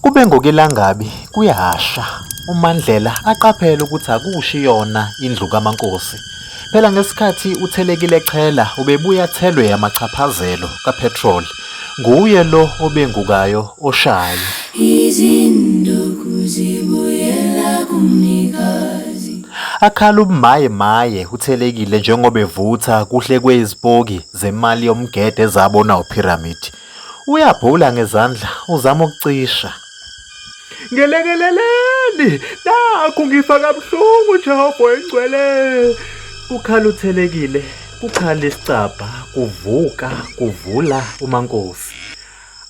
Kube ngokelangabi kuyasha, uMandlela aqaphele ukuthi akushi yona indlu kaMaNkosi. Phela ngesikhathi uThelekile echela ubebuya athelwe amachaphazelo kapetrol. Nguye lo obengukayo oshayo. Izinduku zibuyela kumnikazi. Akhala ubumaye maye uThelekile njengoba evutha kuhlekwe izipoki zemali yomgede ezabonwa uPyramid. Uyabhula ngezandla uzama ukucisha. Ngelekeleleni nakhu ngifa kabuhlungu Jehova oyingcwele. Ukhala uthelekile, kukhala isicabha, kuvuka, kuvula uMankosi.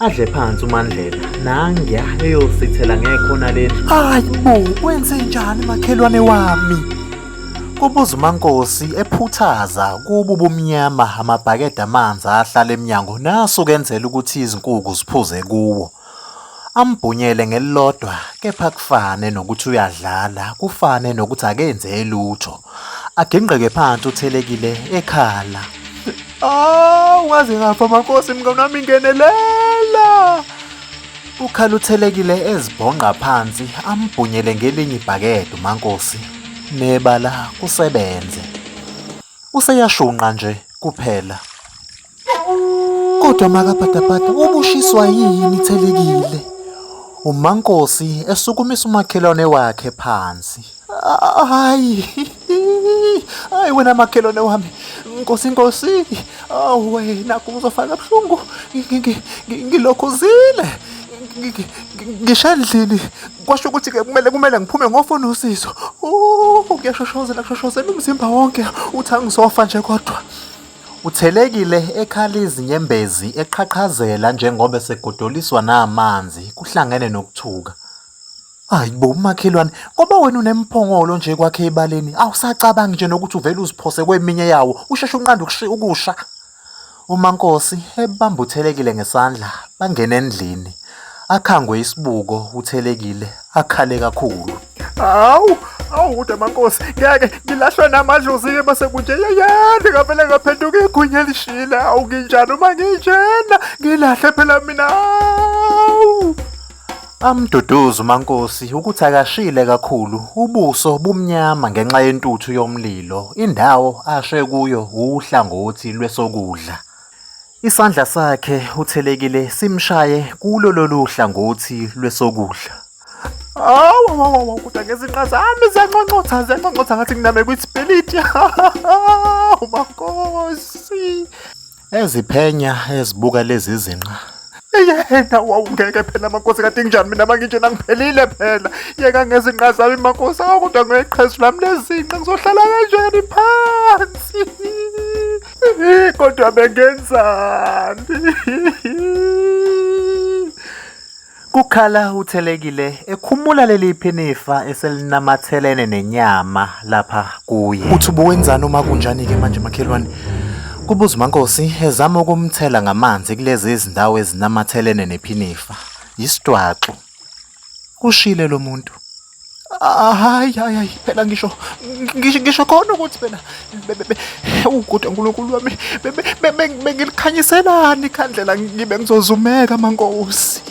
Adle phansi uMandlela nangiya eyosithela ngekhona lendlu. Hayi bo, kwenze njani makhelwane wami? Kubuza uMankosi ephuthaza kubo ubumnyama amabhakede amanzi ahlala emnyango naso kenzela ukuthi izinkuku ziphuze kuwo. Ambhunyele ngelilodwa kepha kufane nokuthi uyadlala, kufane nokuthi akenze lutho. Agingqeke phansi uthelekile ekhala. Awu ngaze ngafa Mankosi mngani wami ngenelela. Ukhaluthelekile ezibhonqa phansi ambhunyele ngelinye ibhakede uMankosi nebala kusebenze. Useyashunqa nje kuphela. Kodwa makapatapata ubushiswa yini Thelekile? uMankosi esukumisa umakhelwane wakhe phansi. Hayi, hayi wena makhelwane wami, nkosi nkosi, awu wena kuzofaka buhlungu, ngilokhuzile ngisha endlini kwasho ukuthi ke kumele kumele ngiphume ngofuna usizo kuyashoshozela kushoshozela umzimba wonke uthi angizofa nje kodwa uthelekile ekhala izinyembezi eqhaqhazela njengoba esegodoliswa namanzi kuhlangene nokuthuka Hayi bo umakhelwane ngoba wena unemphongolo nje kwakhe ebaleni awusacabangi nje nokuthi uvele uziphose kweminye yawo usheshe unqanda ukushi- ukusha. UMaNkosi ebamba uThelekile ngesandla bangena endlini. Akhangwe isibuko uThelekile akhale kakhulu. Hawu, hawu kodwa mankosi, ngeke ngilahlwe namadlozi-ke base kunje yeyande ngavele ngaphenduka igunya elishile. Hawu nginjani uma nginjena? Ngilahle phela mina. Hawu. Amduduza uMankosi ukuthi akashile kakhulu, ubuso bumnyama ngenxa yentuthu yomlilo, indawo ashe kuyo wuhlangothi lwesokudla. Isandla sakhe uthelekile simshaye kulo lolu hlangothi lwesokudla. Awu wawawa kodwa ngezinqa zami ziyanconcotha ziyanconcotha ngathi nginame kwisipiliti. Hawu Mankosi. Eziphenya ezibuka lezi zinqa. Yena wawungeke phela makosi kade nginjani mina manginjena ngiphelile phela. Yeka ngezinqa zami makosi kodwa ngeqhezu lami lezinqa ngizohlala kanjani phansi. Kodwa bengenzani? Kukhala uThelekile ekhumula leli phinifa eselinamathelene nenyama lapha kuye. Uthi ubuwenzani uma kunjani-ke manje makhelwane? Kubuza uMankosi ezama ukumthela ngamanzi kulezi izindawo ezinamathelene nephinifa. Yisitwaxu. Kushile lo muntu. hayi hayi hayi phela ngisho ngisho khona ukuthi phela uguda uNkulunkulu wami bengilikhanyiselani ikhandlela ngibe ngizozumeka mankosi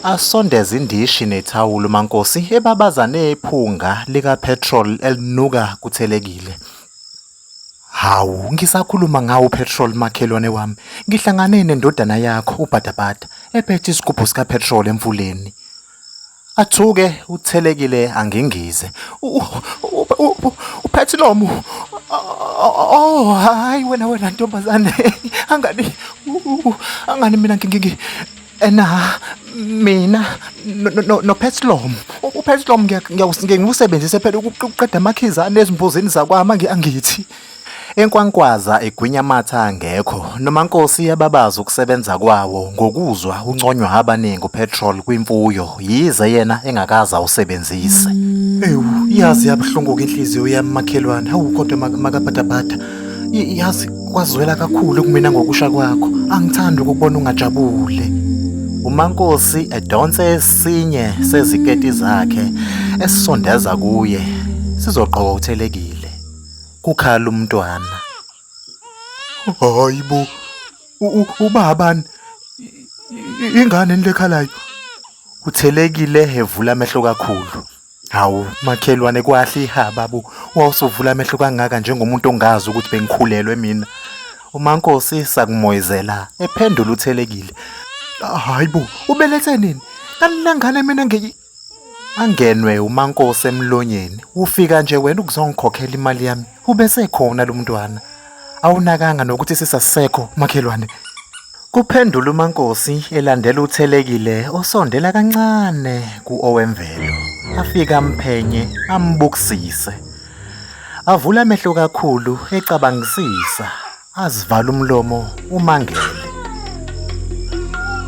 asondeza indishi nethawulo mankosi ebabazane ephunga lika petrol elinuka kuthelekile Hawu, ngisakhuluma ngawo petrol makhelwane wami. Ngihlangane nendodana yakho uBhadabhada ephethe isigubhu sikapetrol emfuleni. Athuke uthelekile angingize. Uphethinomu. Oh, hayi wena wena ntombazane. Angani angani mina ngingi ena mina no Petlom uPetlom ngiyakusebenzisa phela ukuqeda amakhizane ezimbuzini zakwami angithi Enkwankwaza egwinya amathe angekho, noMankosi uyababaza ukusebenza kwawo ngokuzwa unconywa abaningi upetrol kwimfuyo yize yena engakaze awusebenzise. Ewu, yazi yabuhlungu-ke inhliziyo yami makhelwane, hawu kodwa mak- makabhadabhada. Y- Yazi kwazwela kakhulu kumina ngokusha kwakho, angithandi ukukubona ungajabule. UMankosi edonse esinye seziketi zakhe esisondeza kuye sizogqoka uthelekile. kukhala umntwana. Hayi bo, ubabani? Ingane le khalayo. Uthelekile evula amehlo kakhulu. Hawu makhelwane kwahle ihaba bo, wawusuvula amehlo kangaka njengomuntu ongazi ukuthi bengikhulelwe mina. UMankosi sakumoyizela ephendula uthelekile. Hayi bo, ubelethe nini? Kanti lengane mina Angenwe umankosi emlonyeni ufika nje wena ukuzongikhokhela imali yami ubesekhona lo mntwana awunakanga nokuthi sisasekho makhelwane kuphendula umankosi elandela uthelekile osondela kancane kuowemvelo afika amphenye ambukisise avula amehlo kakhulu ecabangisisa Azivala umlomo umangele.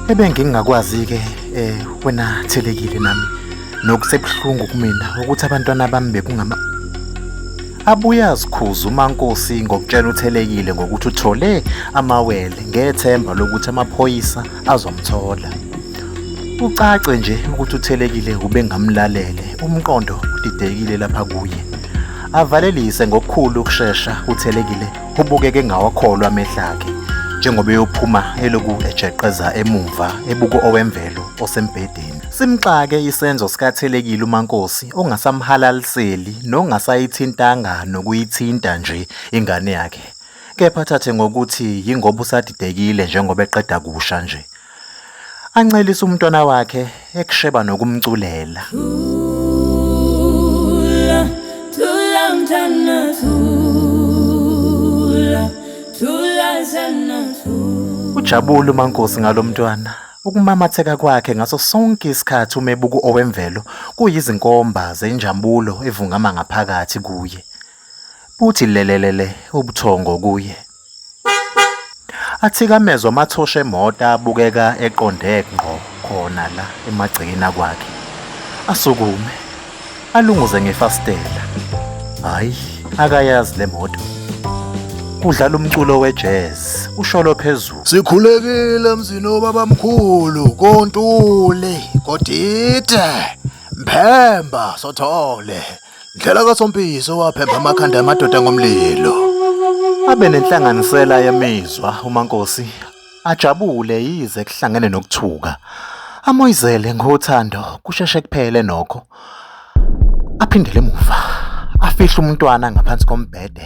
Ebengingakwazi-ke eh wena thelekile nami nokusebuhlungu kumina ukuthi abantwana bami bekungama abuye azikhuze umankosi ngokutshela uthelekile ngokuthi uthole amawele ngethemba lokuthi amaphoyisa azomthola ucace nje ukuthi uthelekile ubengamlalele umqondo udidekile lapha kuye avalelise ngokukhulu ukushesha uthelekile ubukeke engawakholwa amehla akhe njengoba eyophuma eloku ejeqeza emumva ebuko owemvelo osembhedeni simxake isenzo sikathelekile umankosi ongasamhalaliseli nongasayithintanga nokuyithinta nje ingane yakhe kepha thathe ngokuthi yingoba usadidekile njengoba eqeda kusha nje ancelise umntwana wakhe ekusheba nokumculela thula thula mntana thula thula sana thula ujabula umankosi ngalomntwana ukumamatheka kwakhe ngaso sonke isikhathi umebuku owemvelo kuyizinkomba zenjambulo evungama ngaphakathi kuye buthi lelelele ubuthongo kuye Athikamezwa amathosha emoto abukeka eqonde ngqo khona la emagcekeni akwakhe. Asukume alunguze ngefasitela. Hayi, akayazi le moto. Kudlala umculo wejazz, usholo phezulu. Sikhulekile mzini obabamkhulu kontuli kodide mphemba sothole Ndlela kaSompisi owaphemba amakhanda amadoda ngomlilo. Abe nenhlanganisela yemizwa uMankosi ajabule yize kuhlangene nokuthuka. Amoyizele ngothando kusheshe kuphele nokho. Aphindele emuva. Afihle umntwana ngaphansi kombhede